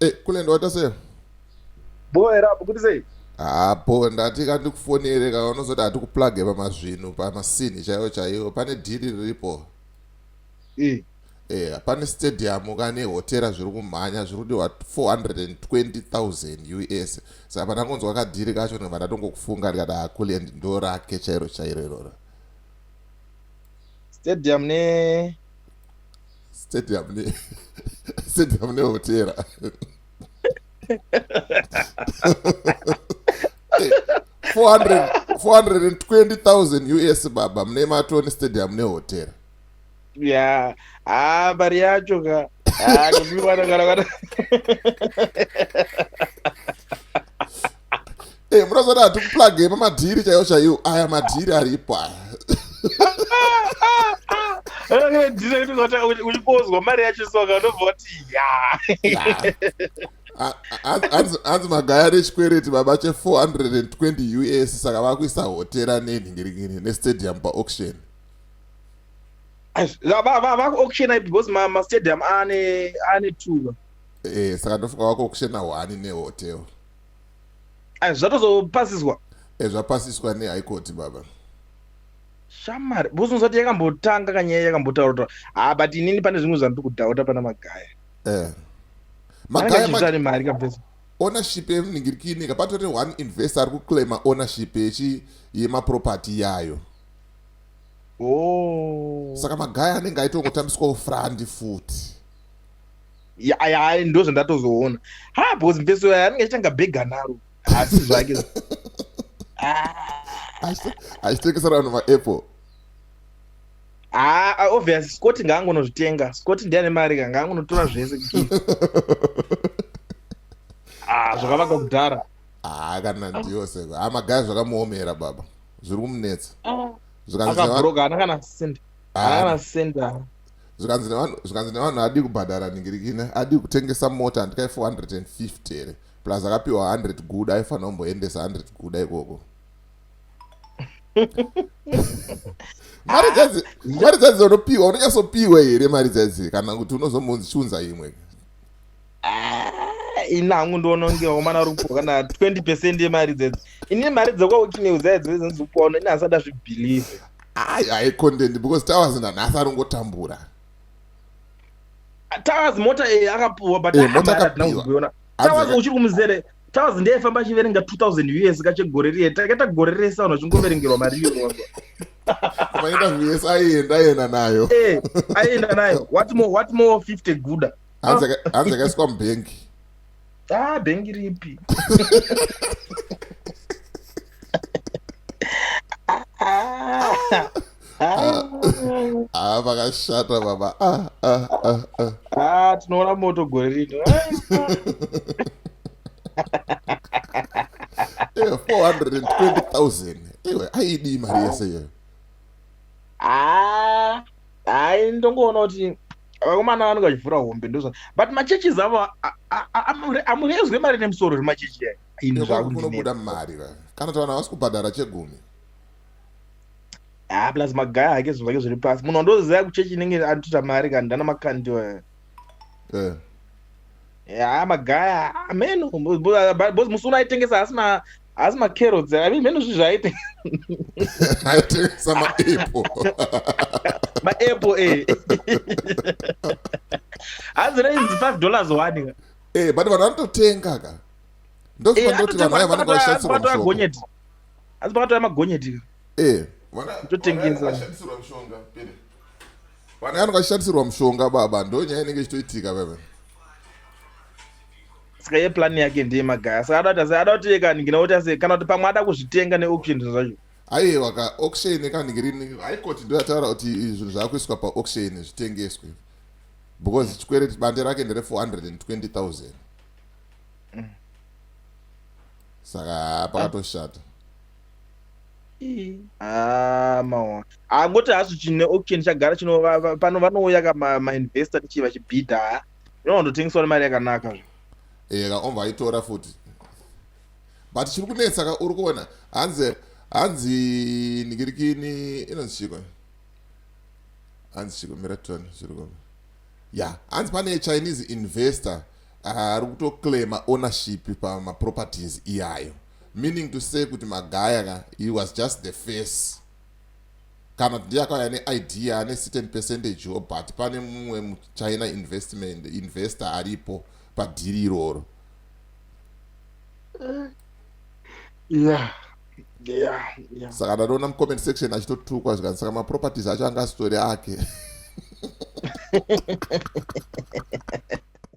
Eh, kule ndoda sei boe rapo kuti sei hapo ndati ka ndikufonere ka unozoda hati kuplage pamazvinhu pamasini chaiwo chaiwo pane dhiri riripo eh eh pane stadium kane hotera zviri kumhanya zviri kudiwa 420000 us saka pandakonzwa kadhiri kacho ndobva ndatongokufunga ndikati akuliend ah, ndo rake chairo chairo iroro stadium ne stadium ne stadium nehotera 420,000 us baba mune matoni stadium nehotera ya ha mari yacho ka eh, munozoda hatikuplage mamadhiri chaiwo chaiwo aya madhiri aripo aya ndinoita kuti uchikozwa mari yacho soka unobva kuti ya hanzi magaya ane chikwereti baba che 420 us saka vakuisa hotera nenhingiringini nestadium paauction vakuauctiona because mastadium ane ane tuva e eh, saka ndofunga vakuauctiona hwani nehotel zvatozopasiswa eh, zvapasiswa nehaikoti baba shamari buzunzati yakambotanga kanyaya yakambotaurwa ha but inini pane zvimwe zvandiri kudhauta pana magaya eh. magayamari mari kabvesa ownership yemuningirikini kapatore one investor ari kuclaima ownership yechi yemaproperty yayo oh. saka magaya anenge aitongotambiswawo frandi futi aya ndo zvandatozoona ha bcause mpeso yayo anenge achitanga bhega naro asi zvake achitengesera vanhu maapple Ah, ah, obvious Scott ngaangonozvitenga. Scott ndiye ane mari ka ngaangonotora zvese gift. Ah, zvakavaka kudhara. Ah, kana ndiyo seko. Ah, magaya zvakamuomera baba. Zviri kumunetsa. Ah. Zvikanzi akabroka ana kana senda. Ah. Ana kana senda. Zvikanzi nevanhu zvikanzi nevanhu adi kubhadhara ningirikine. Adi kutengesa mota ndikai 450 here. Plus akapiwa 100 guda aifanira kumboendesa 100 guda ikoko. mari dzadzi mari dzadzi unopiwa unonyasopiwa here mari dzadzi kana kuti unozombonzi chiunza imwe Ah, ini hangu ndiona kunge wakomana rupo kana 20 percent yemari dzedzi ini mari dzekwaukimeuza idzo dzinozikupa uno ini hasada zvibhilive ai ai content because towers nanhasi arongotambura towers mota iyi akapuwa but Eh, mota hamari hatina akapiwa. kuzoiona Tawaz uchiri kumuzere Tawaz ndiye famba achiverenga 2000 US kache gore riye takaita gore rese vanhu vachingoverengerwa mari iyo wanga Kumaita US aienda aienda nayo Eh aienda nayo what more what more 50 guda Hanzi akaiswa mubhengi Ah bhengi ripi Ah Ah, ah, vakashata baba ah, ah, ah, ah. Ah, tinoona moto gore rino Eh, 420000 iwe aidii mari yese iyoyo Ah, hayi ndongoona kuti vakomana vanenge vachivhura hombe ndozva but machurches avo a- a- a- amure- amurezwe mari nemusoro zvemachechi ayi Iwe ini kunobuda zvakundinetsa mari va kana kuti vanhu havasi kubhadhara chegumi ah plus magaya hake zvinhu zvake zviri pasi munhu wandoziva kuchechi inenge anotota mari kani ndana makandiwa eh. ya magaya ameno bos musi uno aitengesa asina asi macarrots i mean mheno zvi zvaite aitengesa maapple maapple e hanzi rainzi five dollars one ka e eh, but vanhu vanototenga ka ndozvandoti eh, vanhu vaya vanenge vaishandisirwa asi pakatouya magonyeti ka Eh, vana vana Kutotengesa. vakashandisirwa mushonga pere vana vanhu vakashandisirwa mushonga baba ndo nyaya inenge ichitoitika baba saka ye plan yake ndiye magaya saka ada kuti ase- ada kuti iye kaningina kuti ase kana kuti pamwe ada kuzvitenga neauction zvinhu zvacho aiwa ka auction kaningirini haikoti ndo yataura kuti izvi zvinhu zvakuiswa paauction zvitengeswe because chikwereti bande rake ndere 420000 mm. saka pakatoshata ah, maona angoti ah, hasu chine auction chagara chino pano vanouya ka mainvestor tichi vachibhidha inondotengeswa nemari yakanaka zvo ehe ka omva aitora futi but chiri kunetsa ka uri kuona hanzi hanzi nikirikini inonzi chiko hanzi chiko mira tone zviri kuona ya hanzi pane chinese investor ah, ari kutoclaima ownership pamaproperties iyayo meaning to say kuti magaya ka he was just the face kana kuti ndiye akauya neidea ane certain percentage wo but pane mumwe muchina investment investor aripo padhiri iroro eh, yeah saka ndatoona mucomment section achitotukwa zvikani saka maproperties acho anga asitori ake